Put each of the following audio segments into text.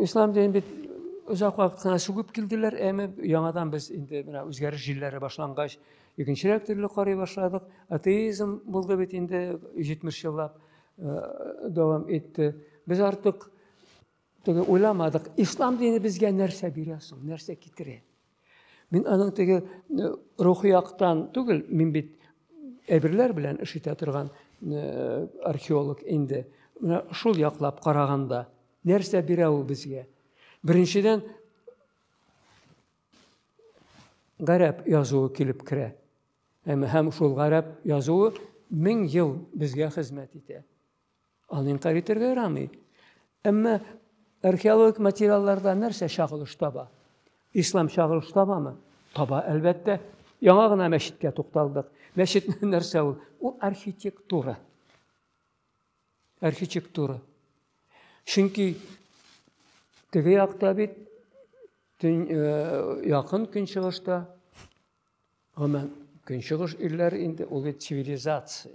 Ислам дин бит озак вакытына чүгеп килделәр, әмма яңадан без инде менә үзгәреш җилләре башлангач, икенчерәк төрле карый башладык. Атеизм булды бит инде 70 еллап э, дәвам итте. Без артык Теге уйламадык, ислам дине безгә нәрсә бирә соң, нәрсә китерә? Мин аның теге э, рухи яктан түгел, мин бит әйберләр белән эш итә торган э, археолог инде. Менә шул яклап караганда, нәрсә бирә ул безгә? Беренчедән, гарәп язуы килеп керә. Һәм шул гарәп язуы мең ел безгә хезмәт итә. Аны инкарь итәргә ярамый. Әмма археологик материалларда нәрсә чагылыш таба? Ислам чагылыш табамы? Таба, әлбәттә. Яңа гына мәчеткә тукталдык. Мәчет нәрсә ул? Ул архитектура. Архитектура. Чөнки теге якта бит э, якын көнчыгышта Гомумән, көнчыгыш илләр инде ул бит цивилизация.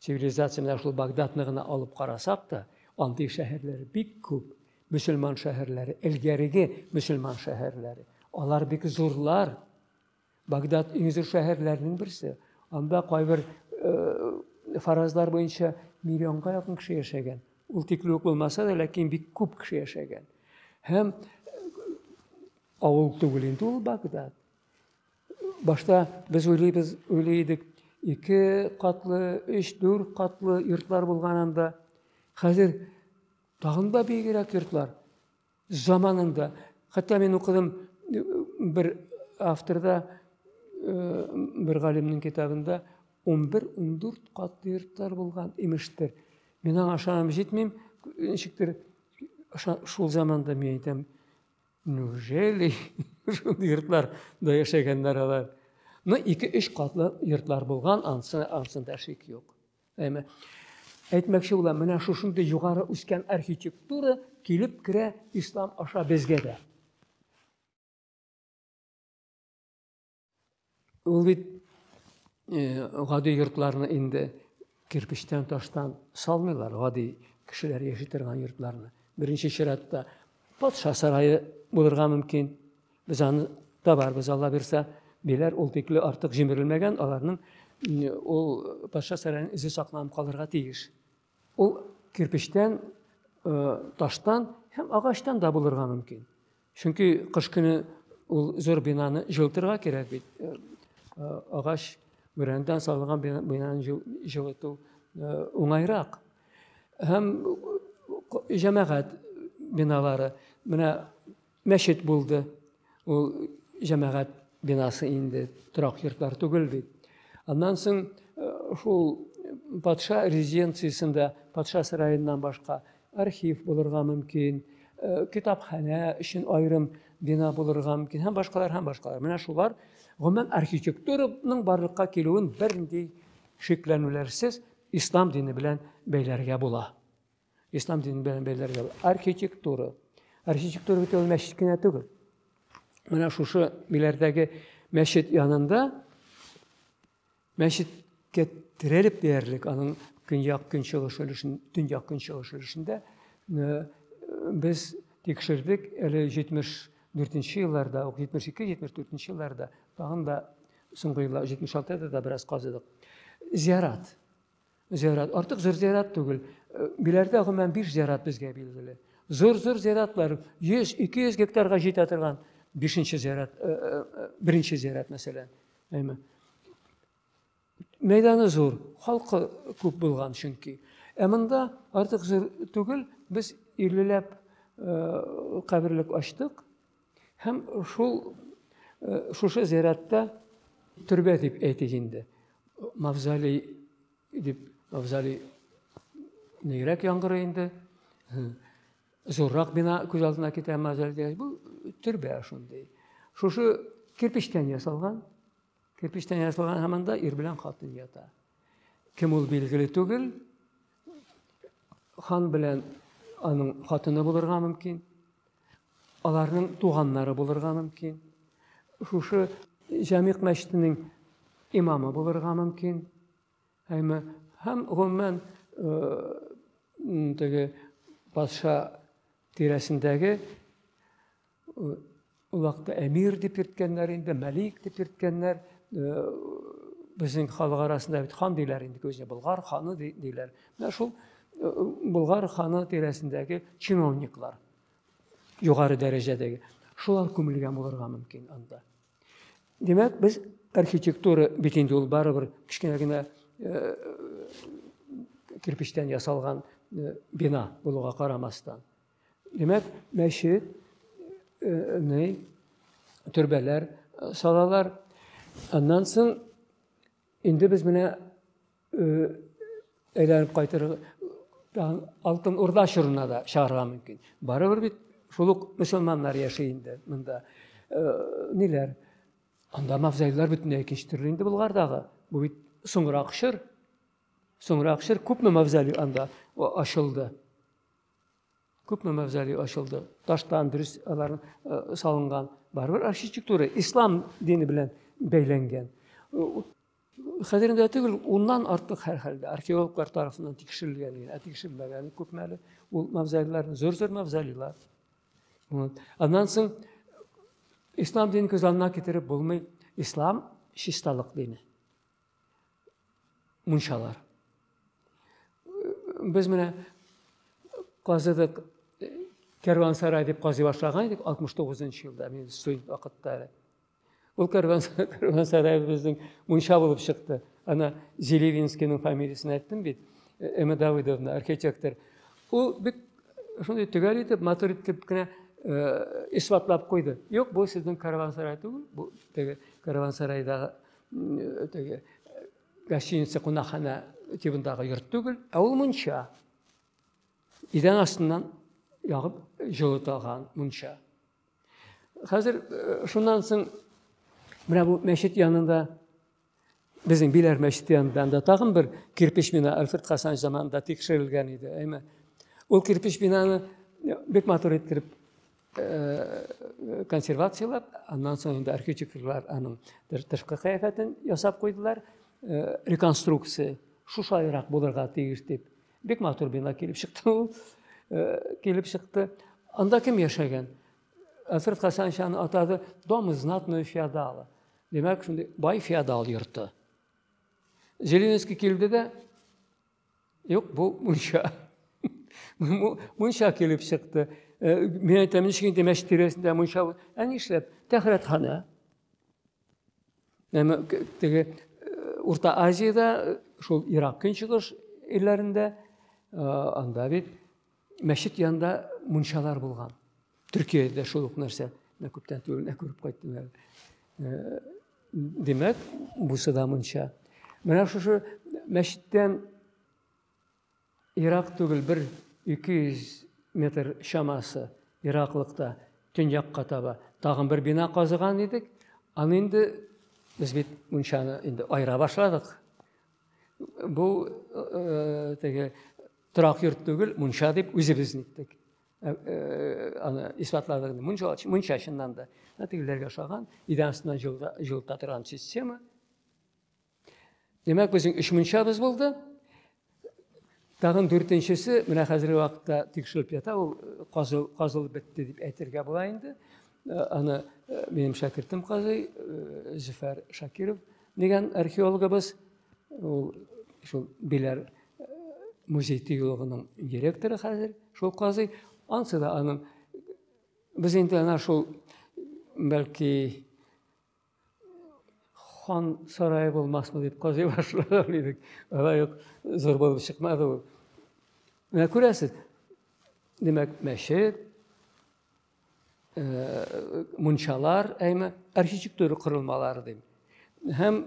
Цивилизация менә шул Багдадны гына алып карасак та, андый шәһәрләр бик күп. Мөселман шәһәрләре, элгәреге мөселман шәһәрләре. Алар бик зурлар. Багдад иң зур шәһәрләрнең берсе. Анда кайбер э, фаразлар буенча миллионга якын кеше яшәгән. Ул тикле үк булмаса да, ләкин бик күп кеше яшәгән. Һәм Авыл түгел инде ул Багдад. Башта без уйлыйбыз, уйлый идек, ике катлы, өч, дүрт катлы йортлар булган анда. Хәзер тагын да бигрәк йортлар. Заманында, хәтта мин укыдым э, бер авторда, э, бер галимнең китабында 11-14 катлы йортлар булган имештер. Мин аңа ышанам җитмим, ничектер шул заманда мин әйтәм, Неужели шул йортлар да яшәгәннәр алар? Ну, ике өч катлы йортлар булган, ансы, ансында шик юк. Әмә әйтмәкче булам, менә шушындый югары үскән архитектура килеп керә ислам аша безгә дә. Ул бит э, гади йортларны инде кирпичтән, таштан салмыйлар, гади кешеләр яши торган йортларны. Беренче чиратта патша сарае булырга мөмкин. Без аны табарбыз, Алла бирсә, биләр ул тикле артык җимерелмәгән, аларның ул патша сараеның үзе сакланып калырга тиеш. Ул кирпичтән, э, таштан һәм агачтан да булырга мөмкин. Чөнки кыш көне ул зур бинаны җылытырга кирәк бит. Э, э, агач бүрәнәдән салынган бинаны җылыту э, уңайрак. Һәм җәмәгать биналары. Менә мәчет булды. Ул җәмәгать бинасы инде торак йортлар түгел бит. Аннан соң шул патша резиденциясендә, патша сараеннан башка архив булырга мөмкин, э, китапханә өчен аерым бина булырга мөмкин һәм башкалар һәм башкалар. Менә шулар гомумән архитектураның барлыкка килүен бернинди шикләнүләрсез ислам дине белән бәйләргә була. Ислам дине белән бәйләргә була. Архитектура. Архитектура бит ул мәчет кенә түгел. Менә шушы миләрдәге мәчет янында Мәчеткә терәлеп диярлек, аның көньяк-көнчыгыш өлешен, төньяк-көнчыгыш өлешендә без тикшердек, әле 74 елларда, 72-74 елларда, тагын да соңгы еллар 76-да да бераз казыдык. Зиярат. Зиярат. Артык зур зиярат түгел. Э, Биләрдә гомумән биш зиярат безгә билгеле. Зур-зур зияратлар 100-200 гектарга җитә торган бишенче зиярат, э, э, беренче зиярат мәсәлән. Әйме. Мәйданы зур, халкы күп булган чөнки. Ә монда артык зур түгел, без 50 ләп каберлек ачтык. Һәм шул шушы зиратта төрбә дип әйтик инде. Мавзолей дип мавзолей нигрәк яңгырый инде. Зуррак бина күз алдына китә мавзолей. Бу төрбә шундый. Шушы кирпичтән ясалган. Кирпичтән ясалган һәм анда ир белән хатын ята. Кем ул билгеле түгел. Хан белән аның хатыны булырга мөмкин. Аларның туганнары булырга мөмкин. Шушы Җамик мәчетенең имамы булырга мөмкин. Һәм һәм гомумән э, теге патша тирәсендәге Ул вакытта әмир дип йөрткәннәр инде, мәлик дип йөрткәннәр. Безнең халык арасында бит хан диләр инде көзне, Болгар ханы диләр. Менә шул Болгар ханы тирәсендәге чиновниклар, югары дәрәҗәдәге, шулар күмелгән булырга мөмкин анда. Димәк, без архитектура бит инде ул барыбер кечкенә генә кирпечтән ясалган бина булуга карамастан. Димәк, мәчет, э, төрбәләр салалар. Аннан соң инде без менә э, әйләнеп кайтырга алтын урда чорына да чыгарга мөмкин. Барыбер бит шул ук мөселманнар яши инде монда. Э, ниләр? Анда мавзолейлар бөтенләй икенче төрле инде Булгардагы. Бу бит соңрак чор. Соңрак чор күпме мавзолей анда ачылды. күпме мавзолей ачылды таштан дөрес алар э, салынган барыбер архитектура ислам дине белән бәйләнгән хәзер инде түгел уннан артык һәрхәлдә археологлар тарафыннан тикшерелгән генә ә тикшермәгән күпме әле ул мавзолейлар зур зур мавзолейлар вот. аннан соң ислам динен күз алдына китереп булмый ислам чисталык дине мунчалар. Без менә казыдык Кәрвансарай дип казый башлаган идек 69 нчы елда, мин студент вакытта әле. Ул Кәрвансарай безнең мунча булып чыкты. Ана Зелевинскийның фамилиясен әйттем бит. Э, Эмма Давыдовна, архитектор. Ул бик шундый төгәл итеп, матур итеп кенә э, исбатлап куйды. Юк, бу сезнең Кәрвансарай түгел, бу теге Кәрвансарайдагы теге гостиница кунакханә тибындагы йорт түгел, ә ул мунча. Идән астыннан ягып җылытылган мунча. Хәзер э, шуннан соң менә бу мәчет янында безнең Биләр мәчете янында анда тагын бер кирпич бина Альфред Хасанович заманында тикшерелгән иде. Әйме, ул кирпич бинаны бик матур иттереп консервацияләп, аннан соң инде архитекторлар аның тышкы кыяфәтен ясап куйдылар, реконструкция шушайрак булырга тиеш дип. Бик матур бина килеп чыкты ул, килеп чыкты. Анда кем яшәгән? Асрф Хасанович аны атады «Дом из знатного феодала». Димәк, шундый бай феодал йорты. Зеленский килде дә Юк, бу мунча. Мунча килеп чыкты. Э, мен әйтәм, ничек инде мәчет тирәсендә мунча. Ә нишләп? Тәхрәтханә. Әмма теге э, Урта Азиядә, э, шул Ирак көнчыгыш илләрендә, анда бит Мәчет янында мунчалар булган. Төркиядә дә шул ук нәрсә. Менә күптән түгел генә күреп кайттым әле. Э, димәк, бусы да мунча. Менә шушы мәчеттән ерак түгел бер 200 метр чамасы ераклыкта төньякка таба тагын бер бина казыган идек. Аны инде без бит мунчаны инде айыра башладык. Бу э, теге Торак йорт түгел, мунча дип үзебез әйттек. Э, э, аны исбатладык. Мунча, мунча чыннан да. Ә тегеләргә ошаган, идән астыннан җылыта торган система. Димәк, безнең өч мунчабыз булды. Тагын дүртенчесе, менә хәзерге вакытта тикшереп ята, ул э, казыл, казылып бетте дип әйтергә була инде. Э, аны э, минем шәкертем казый Зөфәр Шакиров дигән археологыбыз Ул шул Беләр музей тыюлыгының директоры хәзер, шул казый. Ансы да аның без инде ана шул бәлки хан сарае булмасмы дип казый башлаган идек. Алай ук зур булып чыкмады ул. Менә күрәсез, димәк, мәчет, мунчалар, әйме, архитектура корылмалары дим. Һәм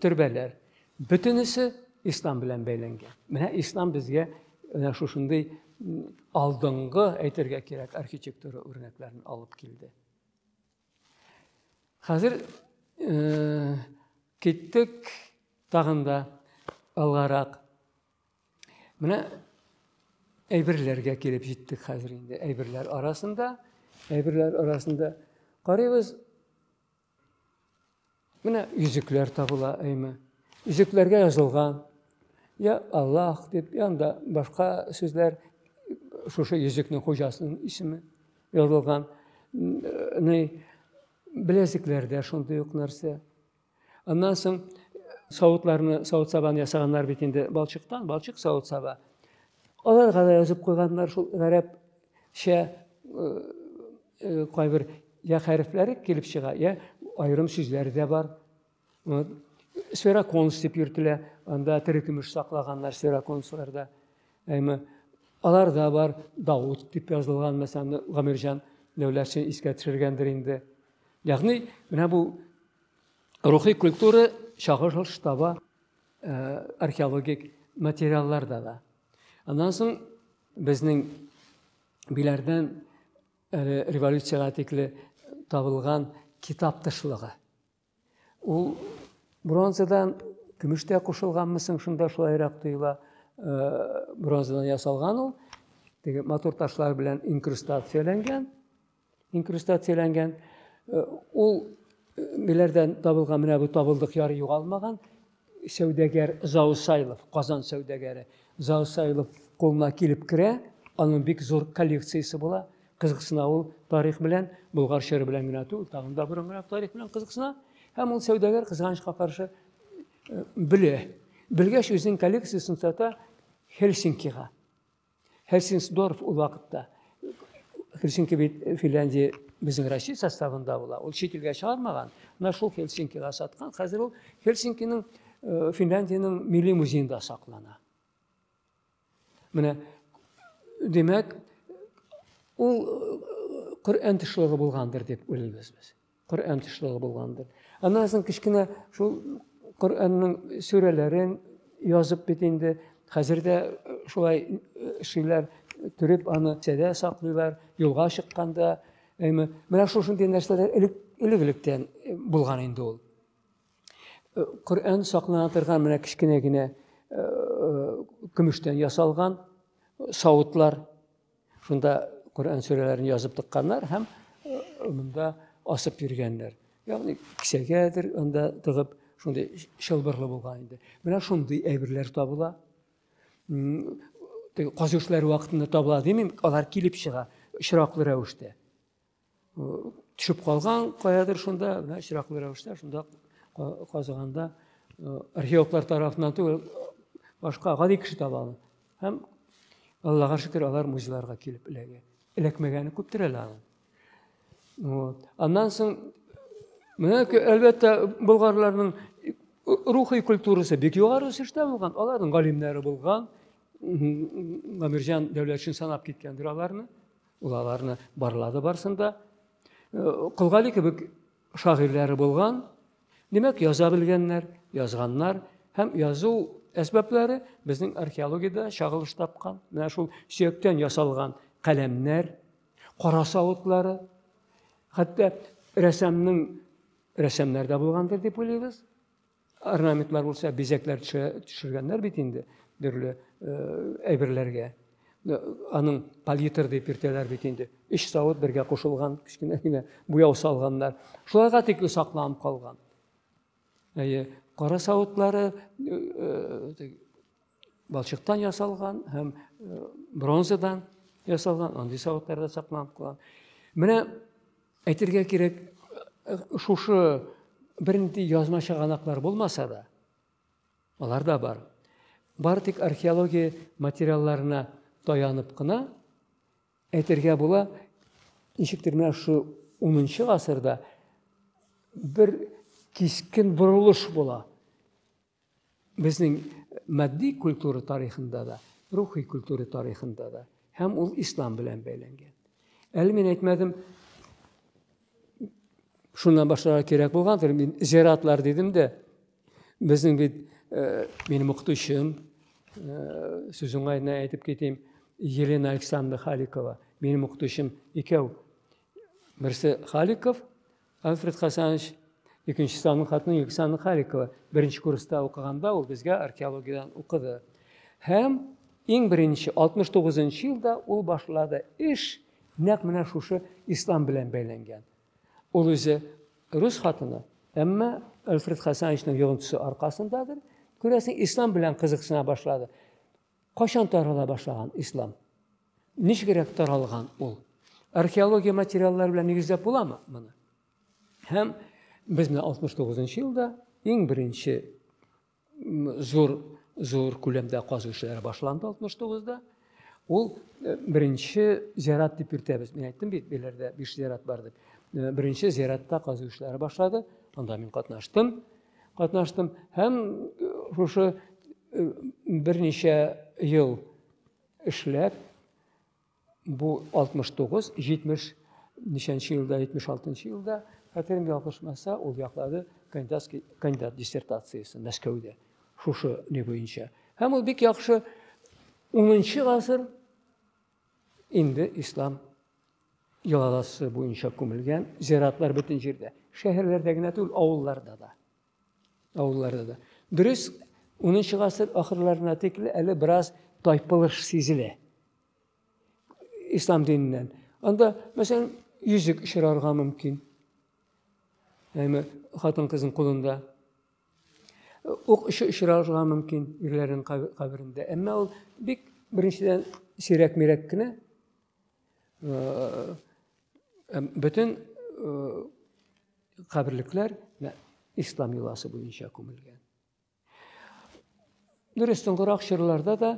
төрбәләр. Бөтенесе ислам белән бәйләнгән. Менә ислам безгә менә шушындый алдынгы әйтергә кирәк архитектура үрнәкләрен алып килде. Хәзер киттек тагында алгарак. Менә әйберләргә килеп җиттек хәзер инде. Әйберләр арасында, әйберләр арасында карыйбыз. Менә йөзекләр табыла, әйме. Йөзекләргә язылган. Я Аллах дип, я анда башка сүзләр шушы йөзекнең хуҗасының исеме язылган. Ни беләзекләрдә шундый ук нәрсә. Аннан соң савытларны, савыт сабаны ясаганнар бит инде балчыктан, балчык савыт саба. Аларга да язып куйганнар шул гарәпчә кайбер я хәрефләре килеп чыга, я аерым сүзләр дә бар. Вот. Сфероконс дип йөртелә, анда тере көмеш саклаганнар сфероконсларда. Әмма аларда бар Давыт дип язылган, мәсәлән, Гамирҗан Дәүләтшин искә төшергәндер инде. Ягъни, менә бу Рухи культура чагыш таба э, археологик материалларда да. Аннан соң безнең биләрдән э, революциягә тикле табылган китап тышлыгы. Ул бронзадан көмештә кушылганмы соң шунда шулайрак тоела. Э, бронзадан ясалган ул. Теге матур ташлар белән инкрустацияләнгән. инкрустацияләнгән. Э, ул э, ниләрдән табылган? Менә бу табылдык яры югалмаган. Сәүдәгәр Заусайлов, Казан сәүдәгәре Заусайлов кулына килеп керә. Аның бик зур коллекциясе була. Кызыксына ул тарих белән, Болгар чоры белән генә түгел, тагын да борынгырак тарих белән кызыксына. Һәм ул сәүдәгәр кызганычка каршы э, белә. Белгәч үзенең коллекциясен сата Хельсинкига. Хельсинсдорф ул вакытта Хельсинки бит Финляндия безнең Россия составында була. Ул чит илгә чыгармаган. Менә шул Хельсинкига саткан. Хәзер ул Хельсинкиның э, Финляндиянең милли музеенда саклана. Менә димәк, ул э, Коръән тышлыгы булгандыр дип уйлыйбыз без. Коръән тышлыгы булгандыр. Аннан соң кечкенә шул Коръәннең сүрәләрен язып бит инде. Хәзер дә э, шулай э, эшлиләр, төреп аны сәдә саклыйлар, юлга чыкканда. Әйме, менә шушындый нәрсәләр элек элек-электән э, булган инде ул. Коръән саклана торган менә кечкенә генә көмештән ясалган савытлар Шунда Коръән сүрәләрен язып тыкканнар һәм монда асып йөргәннәр. Ягъни кисәгәдер анда тыгып, шундый чылбырлы булган инде. Менә шундый әйберләр табыла. Казүшләр вакытында табыла димим, алар килеп чыга очраклы рәвештә. төшеп калган каядыр шунда менә очраклы рәвештә шунда казыганда археологлар тарафыннан түгел башка гади кеше таба аны һәм аллага шөкер алар музейларга килеп эләгә эләкмәгәне күптер әле аның вот аннан соң менә әлбәттә болгарларның рухи культурасы бик югары үсештә булган аларның галимнәре булган гамирҗан дәүләтшин санап киткәндер аларны Ул аларны барлады барсын да. Кылгали э, кебек шагыйрьләре булган, димәк, яза белгәннәр, язганнар һәм язу әсбәпләре безнең археологиядә чагылыш тапкан. Менә шул сөяктән ясалган каләмнәр, кара савытлары, хәтта рәсәмнең рәсәмнәрдә булгандыр дип уйлыйбыз. Орнаментлар булса, бизәкләр төшергәннәр бит инде төрле әйберләргә. Аның палитр дип йөртәләр бит инде. Өч савыт бергә кушылган, кечкенә генә буяу салганнар. Шуларга тикле сакланып калган. Әйе, кара савытлары балчыктан ясалган һәм бронзадан ясалган, андый савытларда сакланып калган. Менә Әйтергә кирәк, шушы бернинди язма чыганаклар булмаса да, алар да бар. Бар тик археология материалларына таянып кына әйтергә була, ничектер менә шу 10 гасырда бер кискен борылыш була. Безнең матди культура тарихында да, рухи культура тарихында да һәм ул ислам белән бәйләнгән. Әле мин әйтмәдем, шуннан башларга кирәк булгандыр. Мин зиратлар дидем дә, безнең бит э, минем укытучым, э, сүз уңаена әйтеп китим, Елена Александровна Халикова, минем укытучым икәү. Берсе Халиков, Альфред Хасанович икенче санлы хатыны Юксана Халикова беренче курста укыганда ул безгә археологиядән укыды. Һәм иң беренче 69 нчы елда ул башлады эш нәкъ менә шушы ислам белән бәйләнгән. Ул үзе рус хатыны, әмма Альфред Хасановичның йогынтысы аркасындадыр, күрәсең, ислам белән кызыксына башлады. Кайчан тарала башлаган ислам? Ничегрәк таралган ул? Археология материаллары белән нигезләп буламы моны? Һәм без менә 69 елда иң беренче зур зур күләмдә казу эшләре башланды 69-да. Ул э, беренче зират дип йөртәбез. Мин әйттем бит, беләрдә биш зират бар дип. Э, беренче зиратта казу эшләре башлады. Анда мин катнаштым. катнаштым һәм шушы берничә ел эшләп бу 69 70 ничәнче елда 76 елда хәтерем ялгышмаса ул яклады кандидатский кандидат диссертациясен мәскәүдә шушы не буенча һәм ул бик яхшы унынчы гасыр Инде ислам йолаласы буенча күмелгән зиратлар бөтен җирдә. Шәһәрләрдә генә түгел, авылларда да. Авылларда да. Дөрес, 10 гасыр ахырларына тикле әле бераз тайпылыш сизелә. Ислам диненнән. Анда, мәсәлән, йөзек очрарга мөмкин. Әйме, хатын-кызның кулында ук очы очрарга мөмкин ирләрнең каберендә. Әмма ул бик беренчедән сирәк-мирәк кенә э, э, бөтен э, каберлекләр ислам йоласы буенча күмелгән. Дөрес, соңгырак чорларда да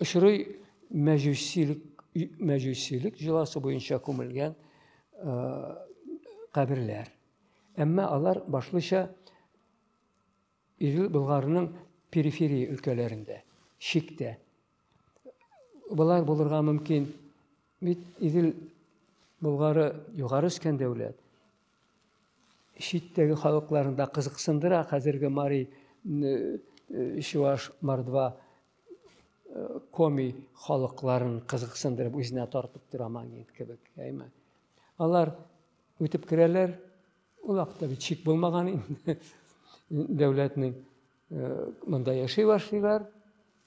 очрый мәҗүсилек мәҗүсилек җоласы буенча күмелгән каберләр. Әмма алар башлыча Идел Болгарының периферия өлкәләрендә, чиктә. Болар булырга мөмкин. Бит Идел Болгары югары үскән дәүләт. Читтәге халыкларында кызыксындыра хәзерге Мари Чуваш Мордва коми халыкларын кызыксындырып үзенә тартып тора магнит кебек, әйме? Алар Үтеп керәләр, ул акта бит шик булмаган инде. Дәүләтнең э, монда яши башлыйлар,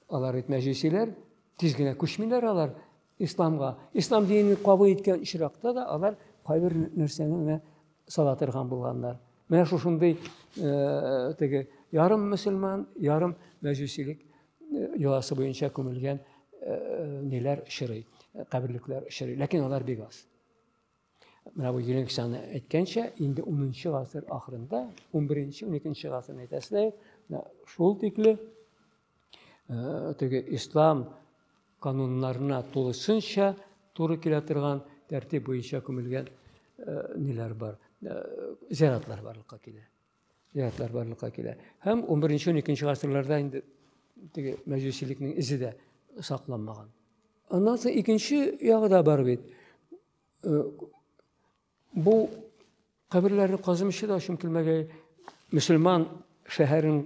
алар бит мәҗүсиләр, тиз генә күчмиләр алар исламга. Ислам динен кабул иткән очракта да алар кайбер нәрсәне менә сала торган булганнар. Менә шушындый э, теге ярым мөселман, ярым мәҗүсилек э, йоласы буенча күмелгән ниләр очрый, каберлекләр очрый. Ләкин алар бик аз. Менә бу Еленксаны әйткәнчә, инде 10-нчы гасыр ахырында, 11-12-нче гасырны әйтәсез, шул тикле э, теге ислам кануннарына тулысынча туры килә торган тәртип буенча күмелгән э, ниләр бар, э, зиратлар барлыкка килә. Зиратлар барлыкка килә. Һәм 11-12-нче гасырларда инде теге мәҗүсилекнең изе дә сакланмаган. Аннан соң икенче ягы да бар бит. Э, бу каберләрне казымчы да өчен килмәгәй мөселман шәһәрен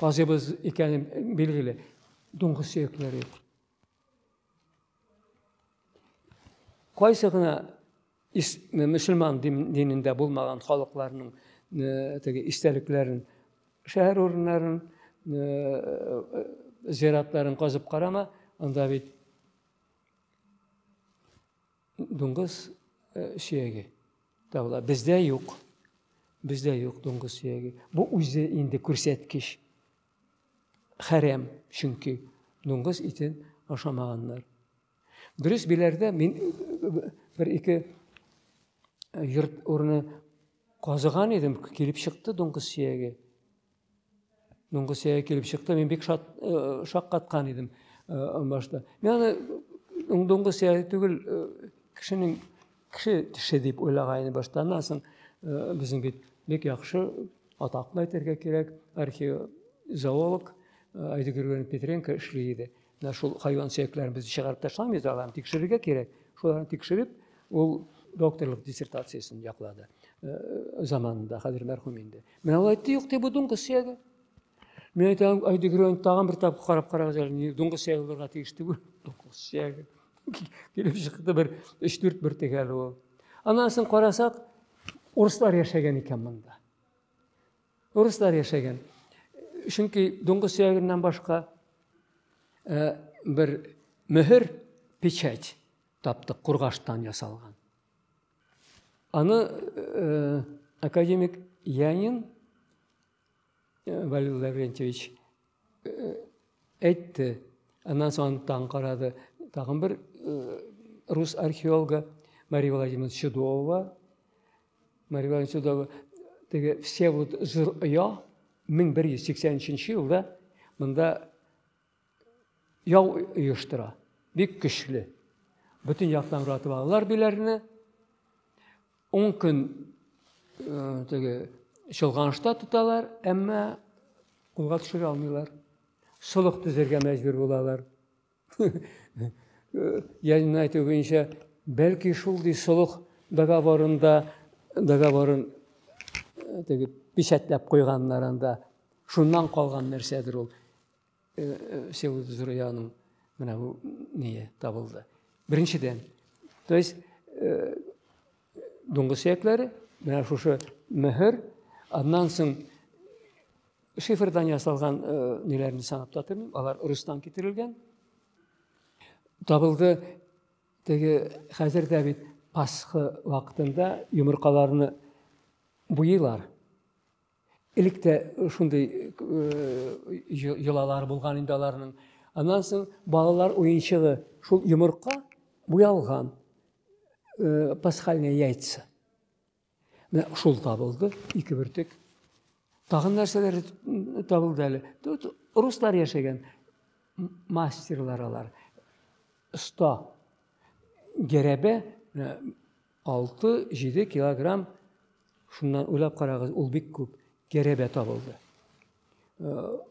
казыбыз икәне билгеле дуңгы сөякләре юк кайсы гына мөселман динендә булмаган халыкларның э, теге истәлекләрен шәһәр урыннарын э, зиратларын казып карама анда бит дуңгыз э, сөяге табыла бездә юк бездә юк дуңгыз сөяге бу үзе инде күрсәткеч хәрәм чөнки дуңгыз итен ашамаганнар дөрес биләрдә мин э, бер ике э, йорт урыны казыган идем килеп чыкты дуңгыз сөяге Бүгенге сәя килеп чыкты, мин бик шат, э, шаккаткан идем э, башта. Мин аны бүгенге сәя түгел, э, кешенең кеше теше дип уйлаган идем башта. Аннан соң э, безнең бит бик яхшы атаклы әйтергә кирәк, археозоолог э, Айдыгерген Петренко эшли иде. Менә шул хайван сөякләрен без чыгарып ташламыйбыз, аларны тикшерергә кирәк. Шуларны тикшереп, ул докторлык диссертациясен яклады э, заманында, хәзер мәрхүм инде. Менә ул әйтте, юк, дип, бу дуңгыз сөяге. Мин әйтәм, Айдегрен, тагын бер тапкыр карап карагыз әле, дуңгыз сөяге булырга тиеш түгел, дуңгыз сөяге. Килеп чыкты бер 3-4 бер тегәл ул. Аннан соң карасак, урыслар яшәгән икән монда. Урыслар яшәгән. Чөнки дуңгыз сөягеннән башка э, бер мөһер, печать таптык, кургаштан ясалган. Аны э, академик Янин э, Валерий Лаврентьевич әйтте. Аннан соң таң карады. Тагын бер рус археологы Мария Владимировна Чудова. Мария Владимировна Чудова теге Всеволод Жыр оя 1183 елда монда яу оештыра. Бик көчле. Бөтен яктан уратып алалар биләрне. Ун көн теге чолганышта тоталар, әмма кулга төшерә алмыйлар. Солых төзергә мәҗбүр булалар. Янин әйтү буенча, бәлки шундый солых договорында договорын теге печатьләп куйганнар анда. Шуннан калган нәрсәдер ул. Всеволод Зурьяның менә бу ние табылды. Беренчедән, то есть дуңгыз сөякләре, менә шушы мөһер, аннан соң шифрдан ясалган ниләрне санап та тормыйм, алар рустан китерелгән. Табылды теге хәзер дә бит Пасха вакытында йомыркаларны буйлар. Элек тә шундый йолалар булган инде аларның. Аннан соң балалар уенчыгы шул йомырка буялган э, пасхальные яйца. Менә шул табылды, ике бөртек. Тагын нәрсәләр табылды әле. Тут руслар яшәгән мастерлар алар. Оста. Гәрәбә э, Алты-җиде килограмм, шуннан уйлап карагыз, ул бик күп керебә табылды.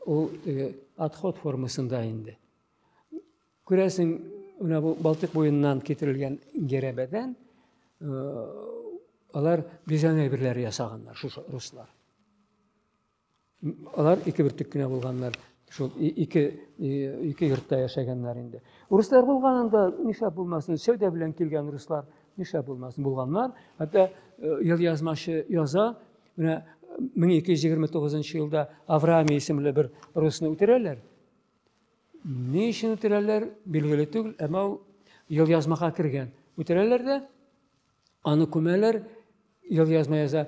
Ул теге отход формасында инде. Күрәсең, менә бу Балтык буеннан китерелгән керебәдән алар бизәнә әйберләре ясаганнар, шушы руслар. Алар ике бөртек кенә булганнар. Шул ике ике йортта яшәгәннәр инде. Руслар булганында нишләп булмасын? Сәүдә белән килгән руслар нишләп булмасын? Булганнар. Хәтта ел язмашы яза, менә 1229 елда Авраамий исемле бер русны үтерәләр. Ни өчен үтерәләр, билгеле түгел, әмма ул ел язмага кергән. Үтерәләр дә аны күмәләр, ел язма яза.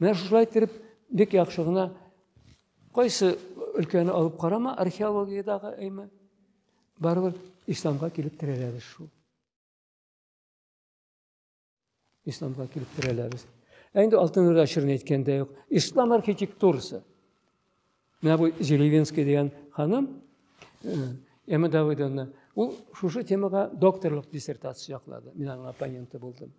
Менә шушылай иттереп, бик яхшы гына кайсы өлкәне алып карама, археологиядагы әйме, барыбер исламга килеп терәләбез шул. Исламга килеп терәләбез. Ә инде Алтын Урда чорын әйткәндә юк. Ислам архитектурасы. Менә бу Зелевинский дигән ханым, э, Эмма Давыдовна, ул шушы темага докторлык диссертация яклады. Мин аның оппоненты булдым.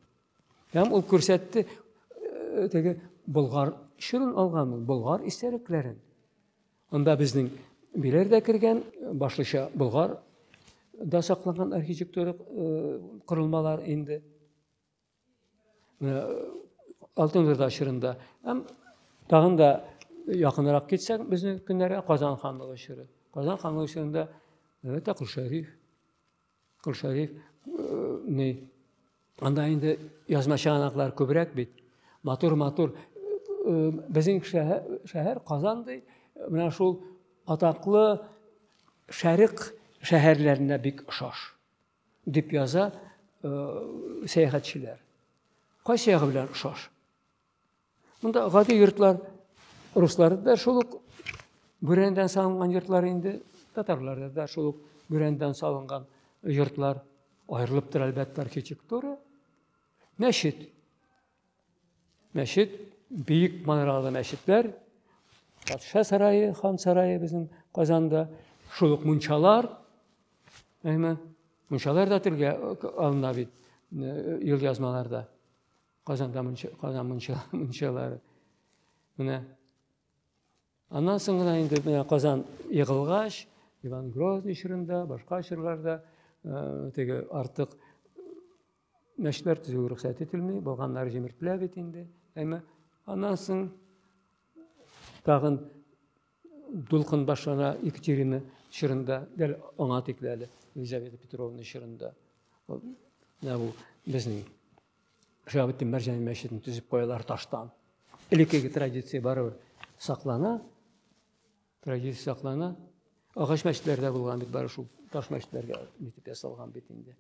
Һәм ул күрсәтте э, теге болгар чүрен алган ул болгар истәлекләрен. Анда безнең биләр дә кергән, башлыча болгар да сакланган архитектура э, корылмалар инде. Э, Алтын Урда чорында. Һәм тагын да якынрак китсәк, безнең көннәргә Казан ханлыгы чоры. Казан ханлыгы чорында Мөтәкул Шәриф, Кол Шәриф ни анда инде язма чыганаклар күбрәк бит. Матур матур безнең шәһәр Казан ди, менә шул атаклы шәрык шәһәрләренә бик ошаш дип яза сәяхәтчеләр. Кайсы ягы белән ошаш? Монда гади йортлар, руслар да шул ук бүрәнәдән салынган йортлар инде, татарларда да шул ук бүрәнәдән салынган йортлар аерылып тора әлбәттә архитектура. Мәчет. Мәчет, биек манаралы мәчетләр, патша сарае, хан сарае безнең Казанда, шул ук мунчалар, әйме, мунчалар да телгә алына бит юлъязмаларда. Казанга мунча, Казан мунча, мунчалары. Менә аннан соң гына инде менә Казан егылгач, Иван Грозный чорында, башка чорларда э, теге артык мәчетләр төзү рөхсәт ителми, булганнар җимертлә бит инде. Әмма аннан соң тагын дулкын башлана Екатерина чорында, дәл аңа тикле әле Елизавета Петровна чорында. Менә бу безнең Шаһабетдин Мәрҗани мәчетен төзеп куялар таштан. Элеккеге традиция барыбер саклана. Традиция саклана. Агач мәчетләрдә булган бит бары шул таш мәчетләргә итеп ясалган бит инде.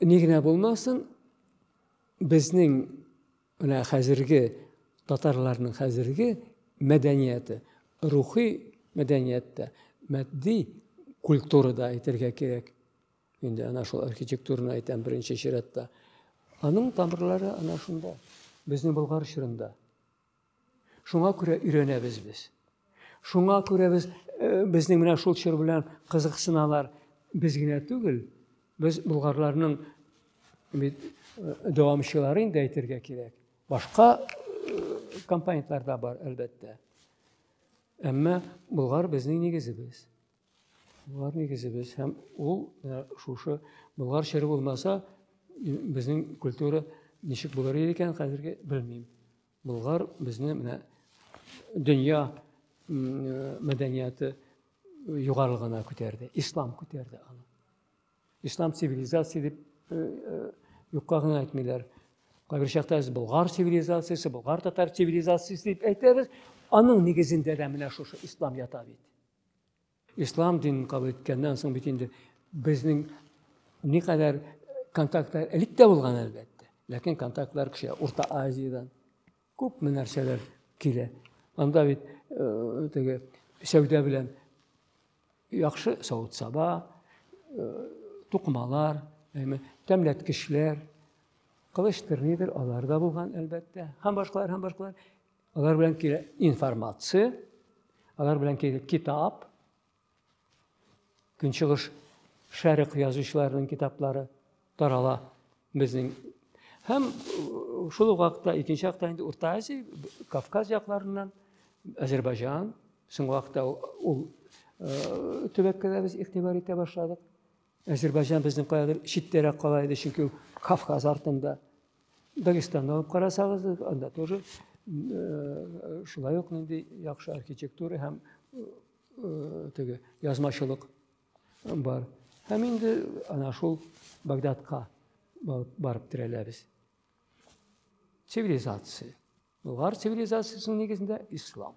Ни генә булмасын, безнең менә хәзерге татарларның хәзерге мәдәнияте, рухи мәдәниятта, матди культурада әйтергә кирәк. Инде ана шул архитектураны әйтәм беренче чиратта. Аның тамырлары ана шунда, безнең Болгар чорында. Шуңа күрә өйрәнәбез без. Шуңа күрә без э, безнең менә шул чор белән кызыксыналар. Без генә түгел, без болгарларның бит э, дәвамчылары инде әйтергә кирәк. Башка э, компонентлар да бар, әлбәттә. Әмма Болгар безнең нигезебез. Болар нигезебез һәм ул э, шушы Болгар чыры булмаса, безнең культура ничек булыр иде икән хәзерге белмим. Болгар безне менә дөнья э, мәдәнияты югарылыгына күтәрде, ислам күтәрде аны. Ислам цивилизация дип э, юкка гына әйтмиләр. Кайбер чакта без Болгар цивилизациясе, Болгар татар цивилизациясе дип әйтәбез. Аның нигезендә дә менә шушы ислам ята бит. Ислам динен кабул иткәннән соң бит инде безнең никадәр контактлар элек тә булган әлбәттә. Ләкин контактлар кеше Урта Азиядән күпме нәрсәләр килә. Анда бит э, теге сәүдә белән яхшы савыт-саба, э, тукмалар, тәмләткечләр, кылычтыр нидер алар да булган әлбәттә. Һәм башкалар, һәм башкалар. Алар белән килә информация, алар белән килә китап, көнчыгыш шәрык язучыларының китаплары тарала безнең. Һәм э, шул вакытта, икенче вакытта инде Урта Азия, Кавказ якларыннан, Азербайҗан, соңгы вакытта ул э, төбәккә дә без игътибар итә башладык. Әзербайҗан безнең каядыр читтәрәк кала иде, чөнки ул Кавказ артында. Дагестанны алып карасагыз, анда тоже э, шулай ук нинди яхшы архитектура һәм э, теге язмачылык бар. Һәм инде ана шул Багдадка барып терәләбез. Цивилизация. Болгар цивилизациясенең нигезендә ислам.